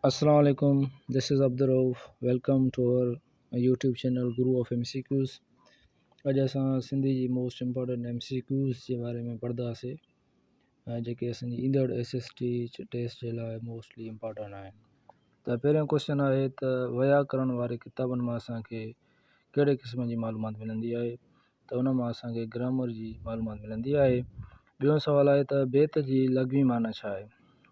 اسلام عليڪم this is Abdul Rauf welcome to our YouTube channel guru of M C Qs اڄ اسان سنڌي جي most important M C Qs جي باري ۾ پڙهنداسي جيڪي اسانجي ايندڙ ايس ايس ٽي ٽيسٽ جي لاء موسٽلي امپورٽنٽ آهن ته پهريون ڪوشچن آهي ته ويا ڪرڻ واري ڪتابن مان اسانکي ڪهڙي قسم جي معلومات ملندي آهي ته ان مان اسان کي گرامر جي معلومات ملندي آهي. ٻيون سوال آهي ته بيت جي لغوي معنيٰ ڇا آهي؟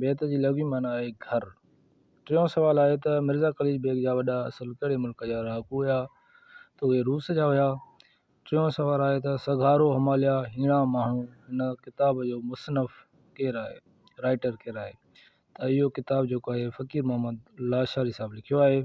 بيت جي لغوي معنيٰ آهي گهر. ٽيون سوال آهي ته مرزا قليچ بيگ جا وڏا اصل ڪهڙي ملڪ جا رهاڪو هيا؟ ته اهي روس جا هيا. ٽيون سوال آهي ته سگهارو هماليا هيڻا ماڻهو هن ڪتاب جو مصنف ڪير آهي؟ Writer ڪير آهي؟ ته اهو ڪتاب جيڪو آهي فقير محمد لاشاري صاحب لکيو آهي.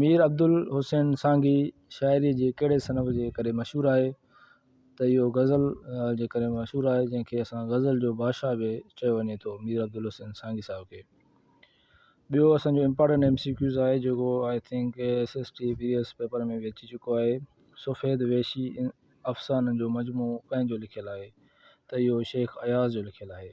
مير عبدالحسين سانگي شاعريء جي ڪهڙي صنف جي ڪري مشهور آهي ته اهو غزل جي ڪري مشهور آهي جنهن کي اسان غزل جو بادشاهه به چيو وڃي ٿو مير عبدالحسين سانگي صاحب کي ٻيو اسانجو امپارٽنٽ ايم سي ڪيوز آهي جيڪو I think S S T P S paper ۾ به اچي چڪو آهي سفيد ويشي افسانن جو مجموعو ڪنهن جو لکيل آهي ته اهو شيخ اياز جو لکيل آهي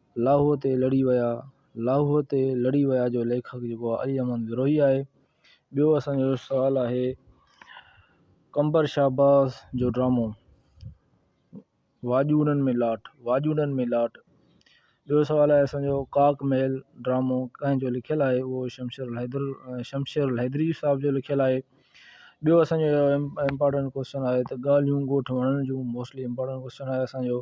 لاهوء تي لڙي ويا، لاهوء تي لڙي ويا جو ليکڪ جيڪو آهي علي احمد بروهي آهي. ٻيو اسان جو سوال آهي قمبر شهباز جو ڊرامو واڄوڙن ۾ لاٽ واڄوڙن ۾ لاٽ ٻيو سوال آهي اسان جو ڪاڪ محل ڊرامو ڪنهن جو لکيل آهي اهو شمشير الحيدر شمشير الحيدري صاحب جو لکيل آهي ٻيو اسان جو امپارٽنٽ ڪوشچن آهي ته ڳالهيون ڳوٺ وڻڻ جون موسٽلي امپارٽنٽ ڪوشچن آهي اسان جو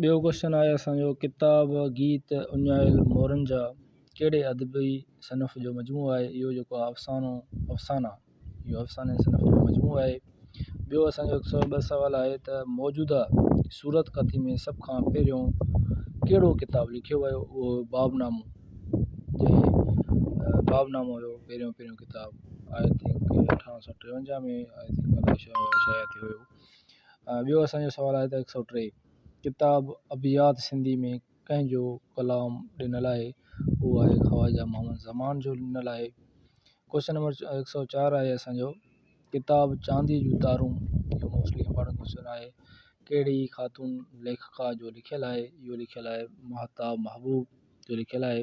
ٻيو ڪوشچن آهي اسان جو ڪتاب، گيت، اڃايل مورن جا ڪهڙي ادبي صنف جو مجموعو آهي اهو جيڪو آهي افسانو افسانا اهو افساني صنف جو مجموعو آهي ٻيو اسان جو هڪ سؤ ٻه سوال آهي ته موجوده صورت ڪٿي ۾ سڀ کان پهريون ڪهڙو ڪتاب لکيو ويو اهو باب نامو جنهن باب نامو هيو پهريون پهريون ڪتاب آئي ٿنڪ اٺارهن سؤ ٽيونجاهه ۾ آئي ٿنڪ الاء شايد شايد ٿيو هيو ٻيو اسانجو سوال آهي ته هڪ سؤ ٽي ڪتاب ابيات سنڌي ۾ ڪنهن جو ڪلام ڏنل آهي هو آهي خواجه محمد زمان جو ڏنل آهي ڪوشچن نمبر هڪ سؤ چار آهي اسانجو ڪتاب چاندي جون تارون اهو موسٽلي امپارٽنٽ ڪوشچن آهي ڪهڙي خاتون ليکڪا جو لکيل آهي اهو لکيل آهي مهتاب محبوب جو لکيل آهي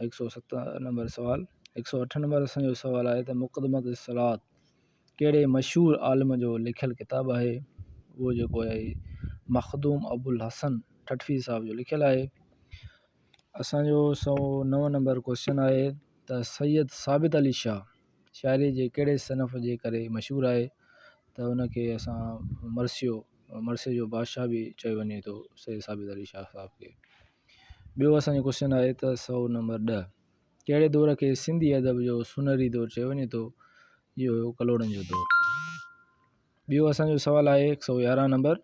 هڪ سؤ ست نمبر سوال هڪ سؤ اٺ نمبر اسان جو سوال آهي ته مقدمة الصلوات ڪهڙي مشهور عالم جو لکيل ڪتاب آهي اهو جيڪو آهي مخدوم ابوالحسن ٺٽوي صاحب جو لکيل آهي اسانجو سؤ نو نمبر ڪوشچن آهي ته سيد ثابت علي شاهه شاعري جي ڪهڙي صنف جي ڪري مشهور آهي ته ان کي اسان مرثيو مرثيي جو بادشاهه به چيو وڃي ٿو سيد ثابت علي شاهه صاحب کي ٻيو اسان جو ڪوشچن آهي ته سوء نمبر ڏهه ڪهڙي دور کي سنڌي ادب جو سونهري دور چيو وڃي ٿو اهو هيو ڪلهوڙن جو دور ٻيو اسان جو سوال آهي هڪ سو يارهن نمبر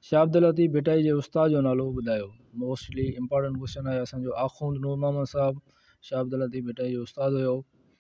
شاهه عبدالطيف ڀٽائي جي استاد جو نالو ٻڌايو موسٽلي امپارٽنٽ ڪوشچن آهي اسان جو آخوند نور محمد صاحب شاهه عبدالطيف ڀٽائي جو استاد هيو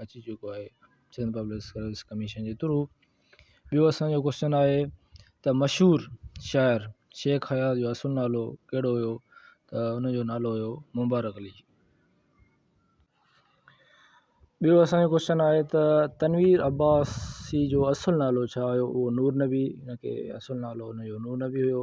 اچي چڪو آهي سنڌ پبلڪ سروس ڪميشن جي ٿرو ٻيو اسانجو ڪوشچن آهي ته مشهور شاعر شيخ حيات جو اصل نالو ڪهڙو هيو ته ان جو نالو هيو مبارڪ علي ٻيو اسانجو ڪوشچن آهي ته تنوير عباسي جو اصل نالو ڇا هيو اهو نور نبي ان کي اصل نالو ان جو نور نبي هيو ٻيو